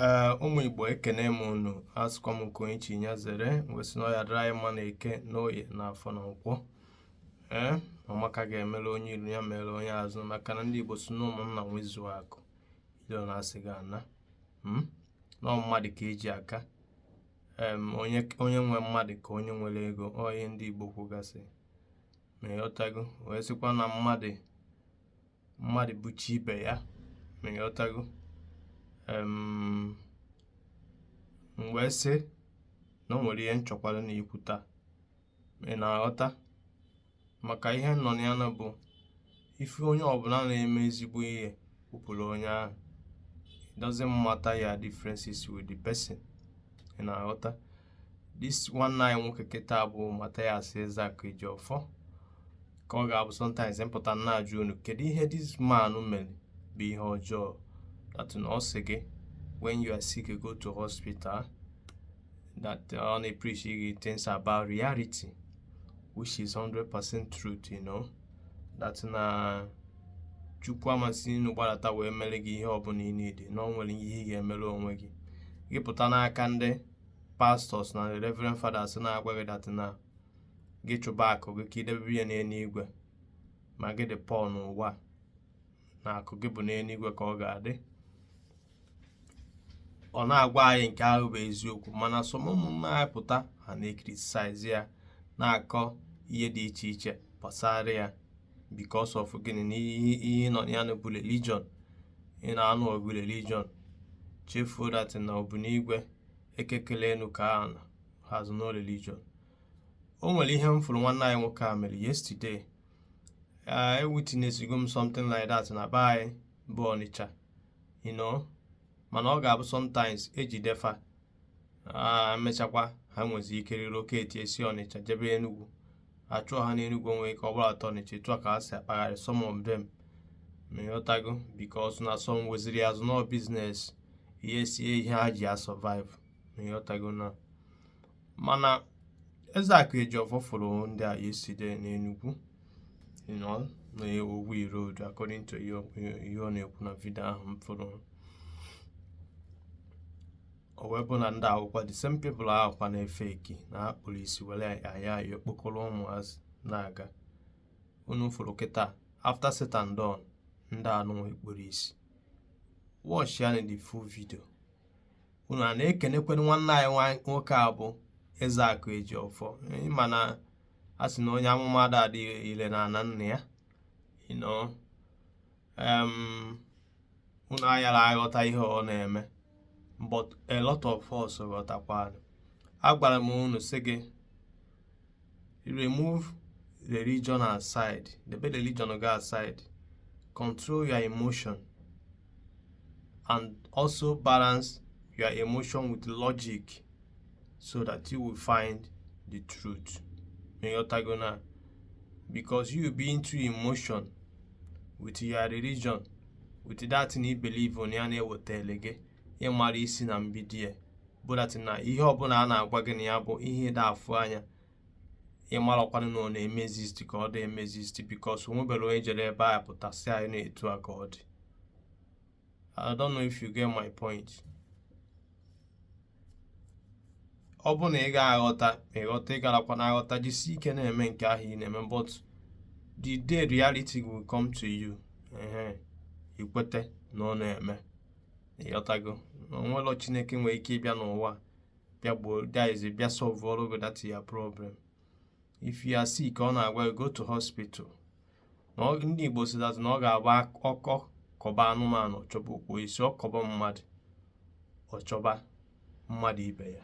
ee ụmụ igbo ekene m unu asịkwa m nke onye chi ya zere wee sị na ọ ya-adịrị anyị mma na eke na oye na afọ na nkwọ ee ọmaka ga-emere onye ilu ya mere onye azụ maka na ndị igbo sị na ụmụnna nwezuo akụ ilo na asị ga-ana hmm? na mmadụ ka e ji aka onye nwe mmadụ ka onye nwere ego ọ ihe ndị igbo kwugasị ma ịghọtago wee sịkwa na mmadụ mmadụ bụ chi ibe ya ma ịghọtago m wee sị na o nwere ihe m chọkwaranụ ikwu taa ị na-aghọta maka ihe nọ na ya nụ bụ if onye ọbụla na-eme ezigbo ihe kwupụrụ onye ahụ it doesn't matter your differences with the person ị na-aghọta this nwanne anyị nwoke kịta bụ Mathias Ezeaku Ejiofor ka ọ ga-abụ sometimes m pụta m na-ajụ unu kedu ihe this man mere bụ ihe ọjọọ that na ọ sị gị when you are sick go to hospital that ọ na-epreach gị things about reality which is 100% truth you know that na chukwu ama si n'enu gbadata wee mere gị ihe ọbụla ị na-ede na ọ nwere ihe ị ga-emere onwe gị gị pụta n'aka ndị pastors na reverend fathers na-agwa gị that na gị chụba akụ gị ka i debe ya n'eluigwe ma gị dị poor n'ụwa na akụ gị bụ n'eluigwe ka ọ ga-adị ọ na-agwa anyị nke ahụ bụ eziokwu mana some ụmụnna anyị pụta ha na-ecriticize ya na-akọ ihe dị iche iche gbasara ya because of gịnị na ihe nọ ya bụ religion ị na-anụ ọgụ religion chefuo that na obu n'igwe eke kele enu kee ana has no religion o nwere ihe m fụrụ nwanne anyị nwoke a mere yesterday ewitnessigo m something like that na be anyị bụ Ọnịcha you know mana ọ ga-abụ sometimes e jide fa e mechakwa ha nwezi ike relocate si ọnịcha jebe enugwu a chụọ ha n'enugwu o nwere ike gbalata ọnịcha etu a ka ha si akpagharị some of them ma ịghọtago because na some weziri as na ọ business yes ihe ha ji asurvive ma ịghọtago na mana Ezeaku Ejiofor fụrụ ndị a yesterday n'Enugwu you know, na Ogui road according to ihe ọ na-ekwu na vidio ahụ m fụrụ o wee bụ na ndị ahụkwa the same people ahụkwa na-efake na ha kpuru isi were ayịyọ kpọkọrọ ụmụazị na-aga unu fụrụ kịta after said and done ndị a nwa ekpurọ isi watch ya nụ the full video unu a na-ekenekwanụ nwanne anyị nwoke a bụ eze akụ eji ọfọ ịma na a sị na onye amụma ada adị ile na ana nna ya you know unu ayara aghọta ihe ọ na-eme but a lot of us ghọtakwanụ agwara m unu sị gị remove religion aside debe religion gị aside control your emotion and also balance your emotion with logic so that you will find the truth ịghọtago na because you be into emotion with your religion with that na ibelieve na ya na-ewetele gị ịmara isi na mbido ya bụ that na ihe ọbụla a na-agwa gị na ya bụ ihe ịda afụ anya ịmarakwanụ na ọ na-eme exist ka ọ dị eme exist because onwebere onye jere ebe a pụta sị anyị na etu a ka ọ dị I don't know if you get my point ọ bụ na ị ga-aghọta ma ịghọta ị garakwanụ aghọta jisi ike na-eme nke ahụ ị na-eme but the day reality will come to you ehe ikweta na ọ na-eme ịghọtago na onwelọ chineke nwere ike ịbịa n'ụwa bịa gbuo that is bịa solvụọrọ gị that your problem if you are sick ọ na-agwa go to hospital na ndị igbo si that na ọ ga-abụ ọkọ kọba anụmanụ ọchọba ukwu osisi ọkọba mmadụ ọchọba mmadụ ibe ya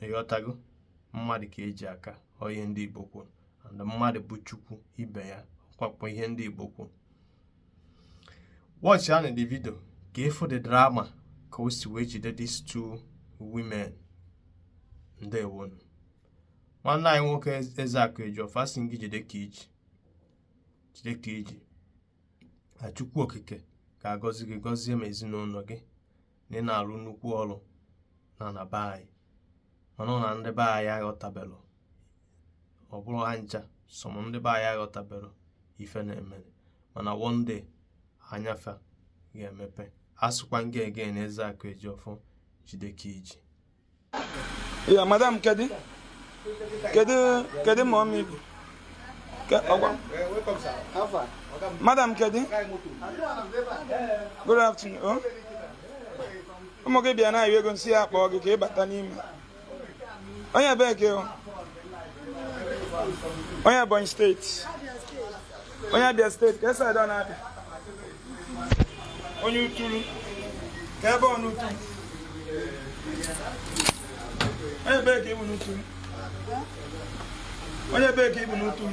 ịghọtago mmadụ ka eji aka ọ ihe ndị igbo kwuru and mmadụ bụ chukwu ibe ya ọkwakwa ihe ndị igbo kwuru watchịanụ the video ka ịfụ the drama ka o si wee jide these two women ndeewonụ nwanne anyị nwoke eze akụ eji ọfọ asị m gị jide ka iji jide ka iji na chukwu okike ga-agọzi gị gọzie ma ezinụlọ gị na ị na-alụ nnukwu ọrụ na ana be anyị mana ọ na ndị be anyị aghọtabelụ ọ bụrụ ha ncha some ndị be anyị aghọtabelụ ife na-eme mana one day anya fa ga-emepe asịkwa m ka ekene eze akụ eji ọfọ jide ka iji Yeah, madam, Kedi. kedu kedu ma ụmụ ibe Ke- ọgwa madam kedu good afternoon oh. ụmụ gị bịa na-ayọ ego m sị ya kpọọ gị ka ị bata n'ime onye ebee ka ịbụ onye ebonyi state onye abịa state kee side na abịa onye utulu kee ebe ọ n'utu onye ebe ka ịbụ n'utu onye ebe ka ịbụ n'utu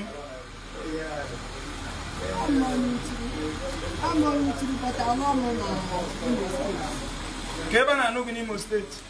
kee ebe a na-anụ gị n'Imo state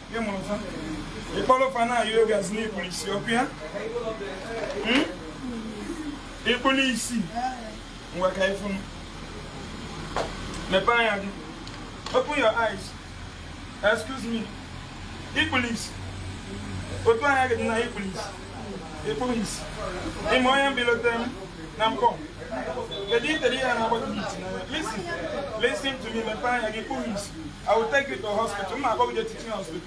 ị kpọrọ fa na-ayọ ego asị n'i kpuru isi ọkwa ya hmm? i kpuru isi ngwa ka ị fụ m mepee anya gị open your eyes excuse me i kpuru isi otu anya gị dị na i kpuru isi i kpuru isi ị ma onye mbilote m na mkpọ kedu itere ihe na-agbata isi listen listen to me mepee anya gị i kpuru isi I will take you to hospital. Mma akpọgide teaching hospital.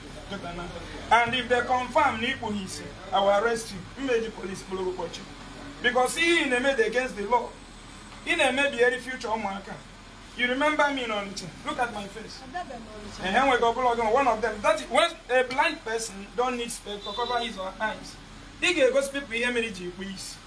And if they confirm na ikpu ha isi, I will arrest you. Mma eji police kpụrụ ụbọchị. Because ihe ị na-eme dị against the law. Ị na-emebieri future ụmụaka. You remember me in Onitsha. Look at my face. And here we go, one of them. That when a blind person don't need spectacles to cover his or her eyes. He goes people here, many G, please.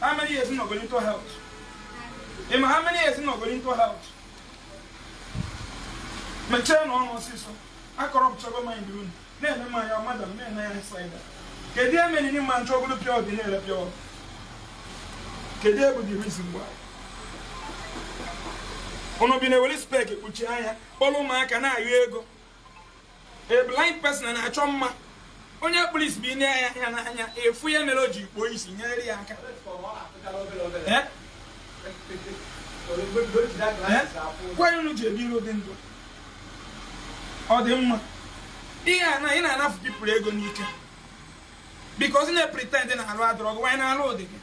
How many years not going to help? Emma, how many years not going to help? Mechie ọnụ ọsịsọ. I corrupt trouble my room. Then am I your mother, man, I say that. Kedu ihe mere n'ị ma eje golu pure water na-ele pure water? Kedu ihe bụ the reason why unu ji na-ewere spec kpuchie anya, kpọrọ ụmụaka na-ayọ ego. A blind person na-achọ mma onye kpuru isi bụ e nee ya anya n'anya a fụ ihe mere o ji kpuo isi nyere ya aka Eh? kwanụ unu ji ebiri ụdị ndụ ọ dị mma ihe a na ị na-anafụ people ego n'ike because ị na-epretend na arụ adịrọ gị while na arụ dị gị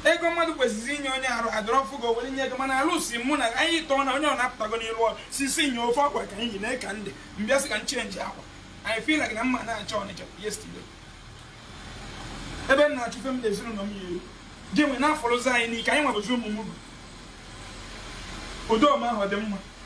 ego mmadụ kwesịrị inye onye arụ adịrọ ọ fụ gị ọ were nye gị mana alụsi mụ na anyị tọọ na onye ọ na-apụtago n'ilu ọrụ sisi nye ofe akwa ka anyị yi na ka ndị m bịa sị ka m chenji akwa I feel like na m ma na-achọ ọnịcha yesterday ebe m na-achụ ife mụ na ezinụlọ m ya-eli gị nwe na-afọrọzi anyị n'ike anyị nwebụzi ụmụ m bụ udo ọma ahụ dị mma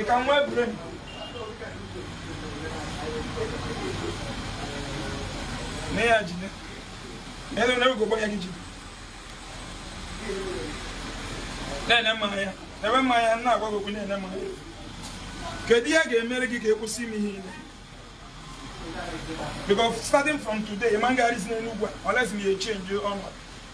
Ị ka nwee brain. Mee ya jide. Elu na ego gbanya gị jide. Na-ene m anya. Ebe mụwa na-agwa gị okwu na-ene m anya. Kedu ihe a ga-emere gị ka ị kwụsị ime ihe ile? Because starting from today, ị ma agagharịzi n'Enugwu a, unless na ị ya-echenji ọnọdụ.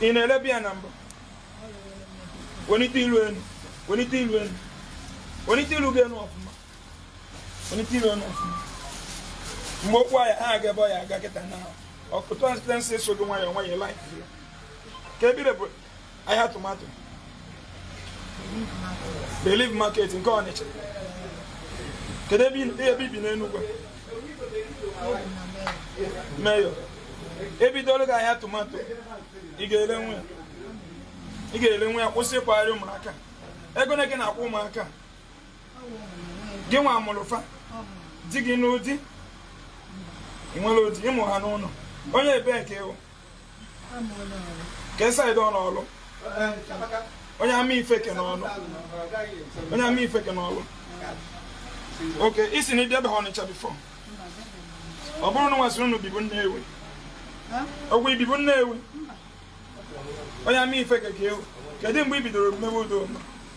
ị na-ele beer na mbụ welite ilu elu welite ilu elu welite ilu gị elu ọfụma welite ilu elu ọfụma mgbe okwu ahụ ha aga ebe ọ ya aga kịta na ọkụtụ asịtensị so gị nwayọọ nwayọọ like ka ebire bụ ahịa tomato Relief market nke ọnịcha kedu ebe i bi n'enugwu Mayor e bidolu gị ahịa tomato ị ga-elenwu ya ị ga-elenwu ya kwụsị ịkpagharị ụmụaka ego one ka ị na-akwụ ụmụaka gịnwa mụrụ fa di gị n'ụdị ị nwerọ di ị mụ ha n'ụlọ onye ebee ka ị wụ kee side n'ọlụ onye amaifeke n'ọlụ onye amaifeke n'ọlụ okay ị sị na ị bịa ebe a ọnịcha before ọ bụrụ na nwa a sịrị unu bibu nnewi ọ wụ i bibu nnewi onye amaifeke ka ị wụ kedu mgbe i bidoro mewe ụdị ọlụ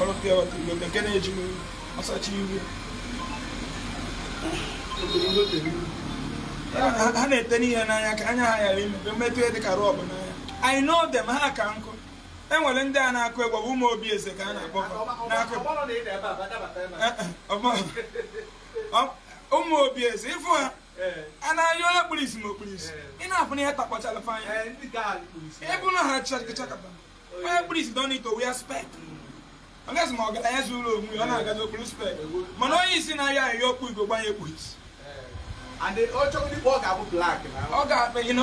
ọrụ pure water igbo nke na-eji m ọsachi ihu ha na-etenye ihe n'anya ka anya ha ghara imepe emetụ ihe dịka robb n'anya I know them ha ka nkụ e nwere ndị a na-akụ egwu bụ ụmụ obi eze ka a na-akpọ ụmụ obi eze ịfụ ha a na-ayọ onye kpuru isi ma o kpuru isi ị na-afụ na ihe takpọchara fa anya ịbụ na ha chakachakata onye kpuru isi don't need to wear spec ọgazi ma ọgaranya zuru onwe ya ọ na-agazi o kpuru spec mana onye isi na-ayọ ayọ o kpu ugegbe anya kpu isi ọ ga-akpa ịnọ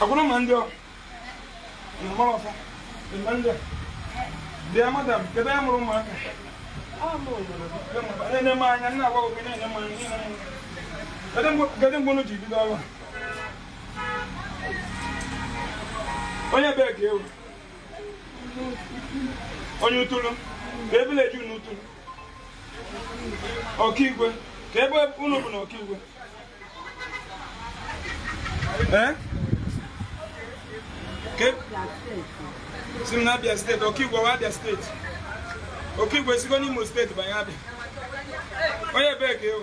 akwụna ma ndị ọ mgbara ọfọ mgbe ndị a bịa madam kedu ihe mere ụmụaka na-ene m anya nna agwa oge na-ene m anya kedu mgbe unu ji bido ọrụ onye ebee ka ị wụ onye utulu kee village n'utulu Okigwe, kee ebe unu bụ n'Okigwe? Ee? Si m na Abia steeti, Okigwe wụ Abia steeti. Okigwe sigo n'Imo steeti banye Abia. Onye ebee ka ị wụ?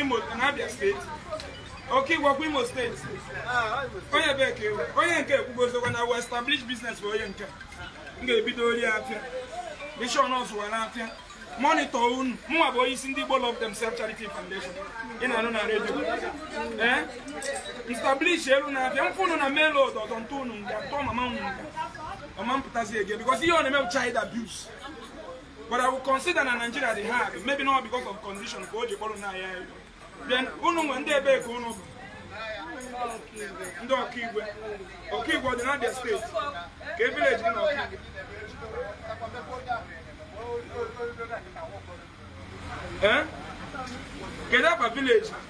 Imo na Abia steeti Okigwe ọ kwa Imo steeti onye ebee ka ị wụ onye nke ekwugozokwa na we establish business bụ onye nke m ga-ebidoro afịa bishon ọ zụwa afịa monitor unu mụnwa bụ onye isi ndị Igbo Love Themselves Charity Foundation ị na-anụ na redio ee m establish elu na-abịa m fụ unu na main road ọdọ m tụọ unu nga tụọ mama unu nga mama mpụtazi ege because ihe ọ na-eme bụ child abuse but I will consider na Nigeria dị hard maybe not because of condition ka o ji kpọrọ nwa ya then unu wụ ndị ebee ka unu bụ ndị Okigwe Okigwe ọ dị na Abia steeti kee village gị n'Okigwe eh? kedu kwa village